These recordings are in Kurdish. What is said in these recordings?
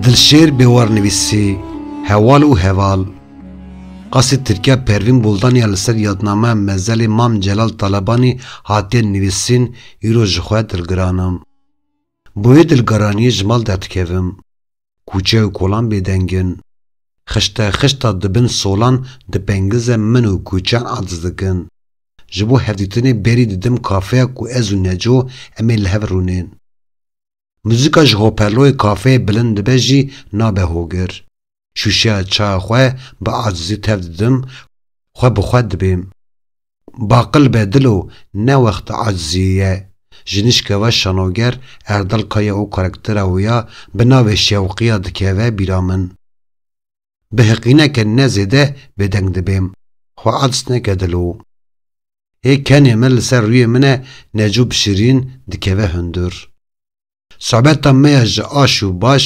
Dilşêr Bêwarnivîsî, Heval û Heval, Qasî Tirkiya Pervîn Buldan ya li ser yadnameya mezelê Mam Celal Talebanî hatiye nivîsîn îro ji xwe dilgiran im. Bi wê dilgiraniyê ji mal derdikevim. Kûçe û kolan bêdeng in. Xişte xişta di bin solan di pengize min û kûçeyan aciz dikin. Ji bo hevdîtinê berî didim kafeya ku ez û Neco em ê li hev rûnên. Muzîka ji hoperloyê kafeyê bilind dibe jî nabe hogir. Şûşeya çaya xwe bi acizî tev didim, xwe bi xwe dibêm. Baqil be dilo, ne wexta aciziyê ye. Ji nişkeva şanoger Erdal Kaya û karaktera wê ya bi navê Şewqiya dikeve bîra min. Bi heqîneke ne zêde bêdeng dibêm. Xwe acs neke dilo. Hê kenê me li ser rûyê min e necu bi şirîn dikeve hundur. Sobeta me ya ji aş û baş,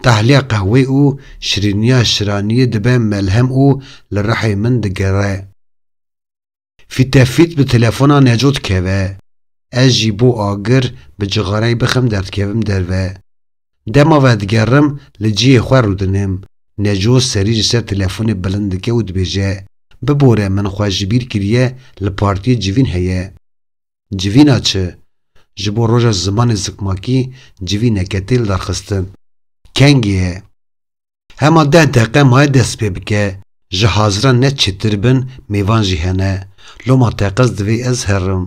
tahliya qehwê û şirîniya şiraniyê dibe melhem û li rihê min digere. Fîtefît bi telefona Neco dikeve. Ez jî bo agir bi cixareyê bixim derdikevim derve. Dema vedigerim li cihê xwe rûdinim. Neco serî ji ser telefonê bilind dike û dibêje, Bibore min xwe ji bîr kiriye li partiyê civîn heye. Civîna çi? Ji bo roja zimanê zikmakî civîneke tê lidarxistin. Kengê ye. Hema deh deqe maye dest pê bike, ji haziran ne çêtir bin mêvan jî hene, loma teqez divê ez herim.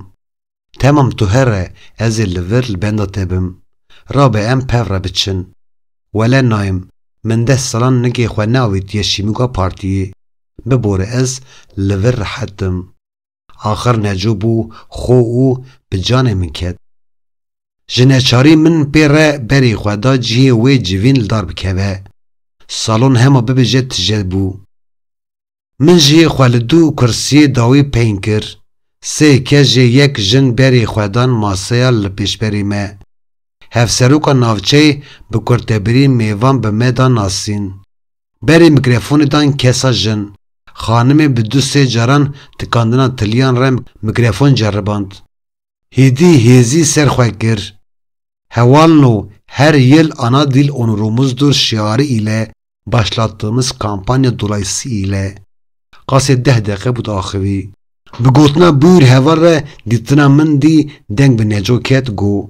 Temam tu here, ez ê li vir li benda te bim. Rabe em pev re biçin. Wele nayim, min deh salan nigê xwe neavêtiye şîmûga partiyê. Bibore ez li vir rehet im. Axir Neco bû xwe û bi canê min ket. Ji neçarî min pê re berî xwe da cihê wê civîn li dar bikeve. Salon hema bibêje tije bû. Min jî xwe li du kursiyê dawî peyîn kir. Sê kejê yek jin berî xwe dan maseya li pêşberî me. Hevseroka navçeyê bi kurtebirî mêvan bi me da nasîn. Berê mikrefonê dan kesa jin. Xanimê bi du sê caran tikandina tiliyan re mikrefon ceriband. Hîdî hêzî ser xwe kir. Hewalno her yil Ana Dil Onurumuzdur şiarî île başlattığımız kampanya dolayısy île. Qasê deh deqe bûd axivî. Bi gotina Buyur heval re dîtina min dî deng bi Neco ket, go.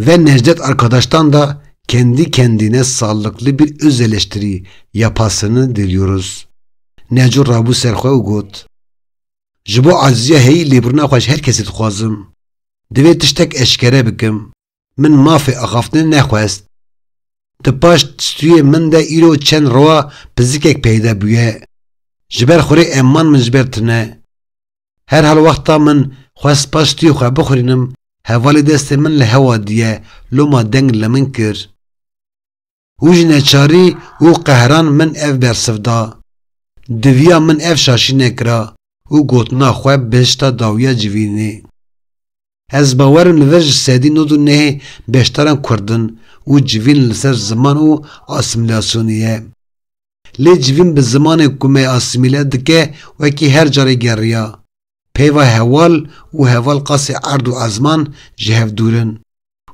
Ve Necdet Arkadaş'tan da kendi kendine sağlıklı bir öz eleştiri yapasını diliyoruz. Neco rabû ser xwe û got, Ji bo acizîya heyî lêbirina xwe ji her kesî dixwazim. Divê tiştek eşkere bikim. Min mafê axaftinê nexwest. Di paş stûyê min de îro çend roa pizikek peyde bûye. Ji ber xurê emman min ji ber tune. Her hal wexta min xwest pastiyê xwe bixurînim hevalê destê min li hewa diye loma deng li min kir û ji neçarî û qehran min ev bersiv da. Diviya min ev şaşî nekira û gotina xwe bihişta dawiya civînê. Ez bawer im li vir ji sedî nod û nehê beşdaran kurd in û civîn li ser ziman û asîmîlasyonê ye. Lê civîn bi zimanê ku me asîmîle dike wekî her carê geriya. Peyva heval û heval qasî erd û ezman ji hev dûr in.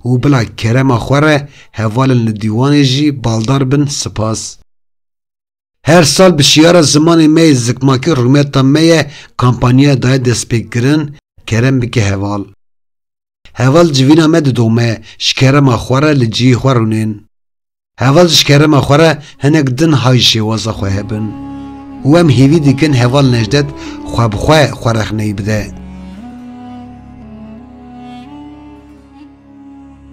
Û bila kerema xwe re hevalên li dîwanê jî baldar bin sipas. Her sal bi şiyara zimanê me yê zikmakî rûmeta me ye kampanyaya daye destpêkirin, Kerem bike heval. Heval civîna me didome, ji kerema xwe re li cihê xwe rûnên. Heval ji kerema xwe re hinek din hay şêwaza xwe hebin û em hêvî dikin heval Nejdet xwe bi xwe xwe rexneyî bide.